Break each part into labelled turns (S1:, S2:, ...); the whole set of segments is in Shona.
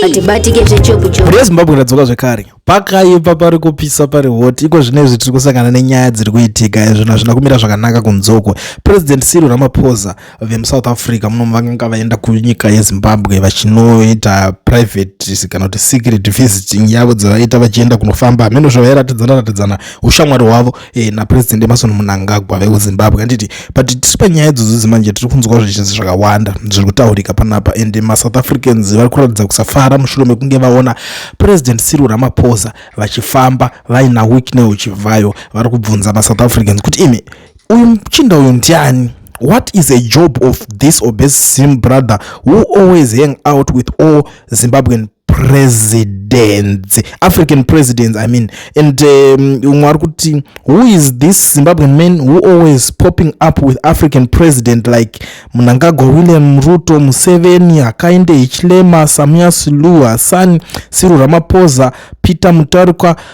S1: hatibatike zvechokuchoku rezimbabwe radzoka zvekare
S2: pakaipa pari kupisa pari hoti iko zvino izvi tiri kusangana nenyaya dziri kuitika izvino hazvina kumira zvakanaka kunzoko president siri ramaphosa vemusouth africa muno vanga vaenda kunyika yezimbabwe vachinoita private kana kuti secret visiting yavo dzavaita vachienda kunofamba hameno zvavairatidzana ratidzana ushamwari hwavo e, napresident emason munangagwa vekuzimbabwe anditi but tiri panyaya idzodzozi manje tiri kunzwa zvichinzi zvakawanda zviri kutaurika panapa and masouth africans vari kuratidza kusafara mushure mekunge vaona president siru ramaposa vachifamba vaina wikne uchivhayo vari kubvunza masouth africans kuti imi uyu muchinda uyu ndiani what is a job of this obese sim brother who always hang out with all zimbabwean presidents african presidents i mean and um, umwe um, ari kuti who is this zimbabwean man who always popping up with african president like munangagwa william ruto museveni akainde hichilema samuya silua sani siru ramaposa peter mutarikwa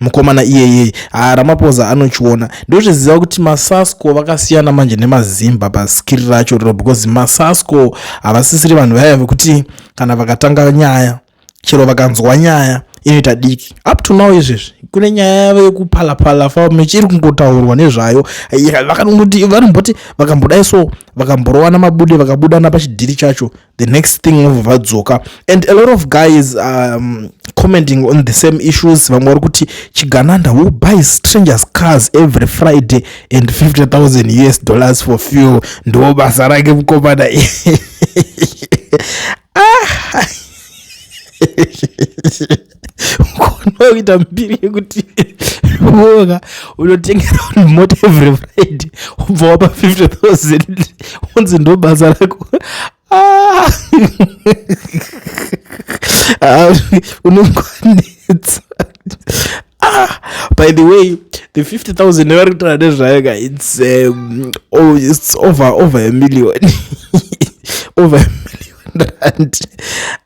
S2: mukomana iyeye ah, ramapoza anochiona ndozviziva kuti masasco vakasiyana manje nemazimba paskiri racho riro because masasco havasisiri vanhu vaya vekuti kana vakatanga nyaya chero vakanzwa nyaya inoita diki up to now izvezvi kune nyaya yavo yekupalapala famechi iri kungotaurwa nezvayo vakangoti vanomboti vakambodai so vakamborowana mabude vakabudana pachidhiri chacho the next thing vobva vadzoka and a lot of guys um, commenting on the same issues vamwe vari kuti chigananda who buys strangers cars every friday and 50000 us dollars for fuel ndo basa rake mukomana ah. ukaona kuita mbiri yekuti woka unotengera vanhu mota every friday ubva wapa 50 thousand unzi ndo basa rako ah! Ah, unokwanisa ah! by the way the 50 thousand nevari kutaura nezvayo ka its um, oh, it's over over a million over a million rand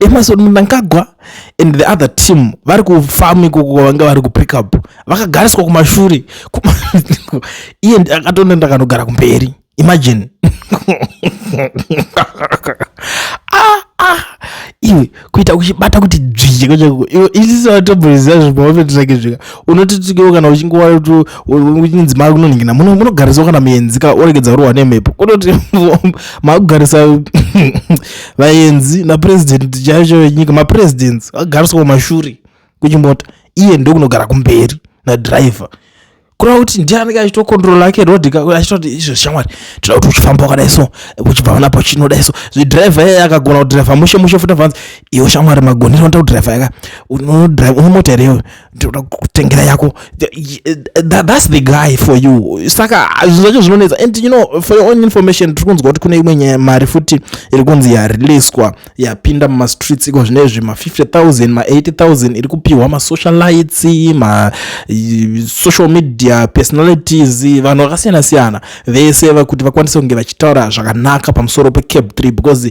S2: emerson mnangagwa and the other team vari kufamu ikoko vanga vari kupick up vakagariswa kumashure iye akatonda ndakanogara kumberi imagine ah, ah. iwe kuita uchibata kuti dzvijeko chako iwe isisi vatomboriziva zvimavafetirake zvika unotitikewo kana uchinge wauchinzi makunonhingina munogarisawo kana muenzika oregedza kurohwa nemhepo kunoti makugarisa vaenzi napurezidendi chaiyo chaiyo yenyika mapurezidendi agariswa mashure kuchimota iye ndokunogara kumberi nadriver kureva kuti ndiye anenge achitokontrola ake road achitoti izvo shamwari tinoda kuti uchifamba wakadai so uchibva pana pachinodai so zvidriver iye akagona kudriver mushe mushe futi avanzi iwe shamwari magonero unoita kudriver yaka unomota here iwe ndinoda kutengera yako that's the guy for you saka zvinhu zvacho zvinonetsa and you know for your own information tiri kunzwa kuti kune imwe mari futi iri kunzi yareleaswa yapinda mumastreets iko zvine izvi ma50000 ma80000 iri kupiwa masocialites masocial media personalities vanhu vakasiyana siyana vese vakuti vakwanise kunge vachitaura zvakanaka pamusoro pecape 3 because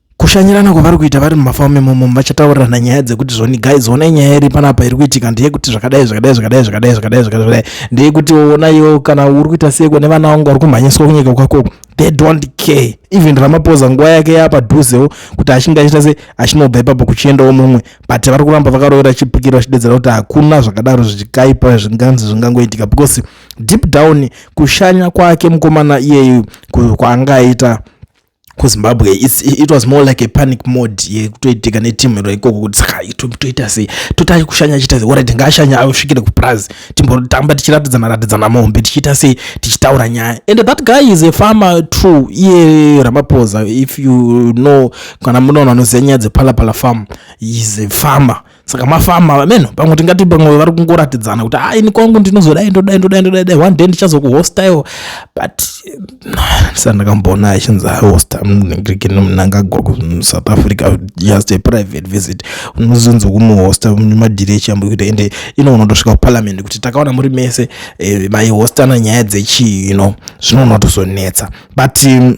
S2: kushanyirana kwavari kuita vari mumafamu imomo vachataurirana nyaya dzekuti zvoni guys onai nyaya iri panapa iri kuitika ndeyekuti zvakadai zvakadai zvakadai zvakadai zvakadai zvakadai ndeyekuti onaiwo kana uri kuita seko nevana vangu vari kumhanyiswa kunyika kwako they don't care even ramapoza nguva yake yapadhuzewo kuti achinge achiita se achinobva ipapo kuchiendawo mumwe but vari kuramba vakarovera chipikiro vachidedzera kuti hakuna zvakadaro zvichikaipa zvinganzi zvingangoitika because deep down kushanya kwake mukomana iyeyu kwaanga aita kuzimbabwe it was more like a panic mode yekutoitika netimu iro ikoko kuti saka toita sei totai kushanya chiita sei orit ngaashanya asvikire kupurazi timbotamba tichiratidzana ratidzana mombe tichiita sei tichitaura nyaya and that guy is a farmer true iye ramapoza if you know kana munoona anoziva nyaya dzepalapala farm is a farmer saka mafama vameno pamwe tingati pamwe vari kungoratidzana kuti a ini kwangu ndinozodai ndodai ndodai ndodai dai one day ndichazokuhostaiwo but ndisati ndakamboona achinzi ahosta mngrikini mnangagwa kusouth africa just a private visit unozonzi kumuhosta madhiri echiyambo kuita ende ino unotosvika kuparliament kuti takaona muri mese eh, maihostana nyaya dzechii ino zvino unotozonetsa but um,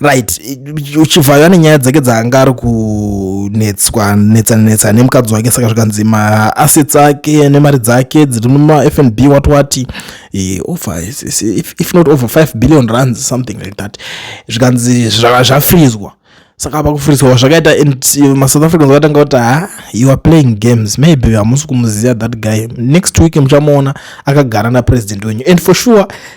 S2: right uchivhayo ane nyaya dzake dzaanga ari kunetswa netsananetsana nemukadzi wake saka zvikanzi maassets ake nemari dzake dziri mumafnb wati wati eh, over if not over 5 billion runs something like that zvikanzi zvafrizwa saka apa kufrizwa zvakaita masouth africans vakatanga kuti ha you are playing games maybe hamusi kumuziva that guy next week muchamuona akagara napresident wenyu and for sure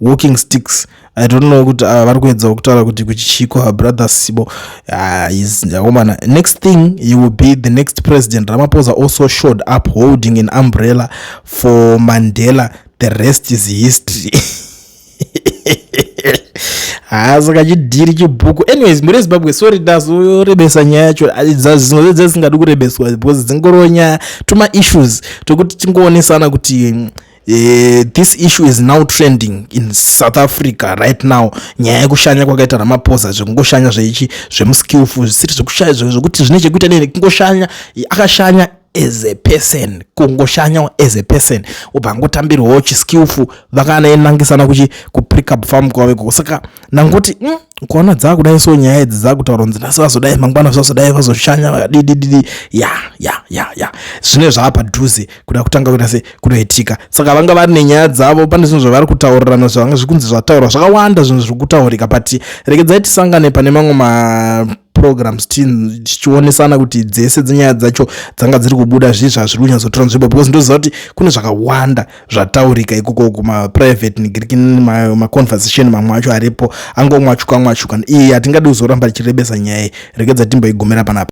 S2: walking sticks i don't know kuti ava ah, vari kuedzawo kutaura kuti kuchichiko her brother sibo ah, is akomana ah, next thing he will be the next president ramaposa also showed up holding an umbrella for mandela the rest is history haa saka chidhiri chibhuku anyways muri zimbabwe sorry dasorebesa nyaya yacho dzazvinozve dzasingadi kurebeswa because dzingoronya tuma issues tokuti tingoonesana kuti mm, Uh, this issue is now trending in south africa right now nyaya yekushanya kwakaita ramaphosa zvekungoshanya zveichi zvemuskillful zvisiri zvekushaya zvekuti zvine chekuita nei kungoshanya akashanya as a person kungoshanyawo as a person ubva angotambirwawo chiskillful vakanaenangisana kuchi kuprickup farm kwaveko saka ndangoti mm, ukaona dzakudai so nyaya idzi dzakutaura kunzi nhasi vazodai mangwana zvazodai vazoshanya vakadidididi ya ya ya ya zvine zvaapadhuze kuda kutanga kuita se kunoitika saka vanga vari nenyaya dzavo pane zvinhu zvavari kutaurirana zvavanga zvikunzi zvataurwa zvakawanda zvinhu zviri kutaurika but regedzai tisangane pane mamwe ma programs tichionesana kuti dzese dzenyaya dzacho dzanga dziri kubuda zvii zvazviri kunyatsotora nzvimbo because ndoziva kuti kune zvakawanda zvataurika ikoko kumaprivate negiriki maconversation mamwe acho aripo angomwachuka mwachuka iyi hatingadi kuzoramba tichirebesa nyaya iyi rekedza timboigumira panapa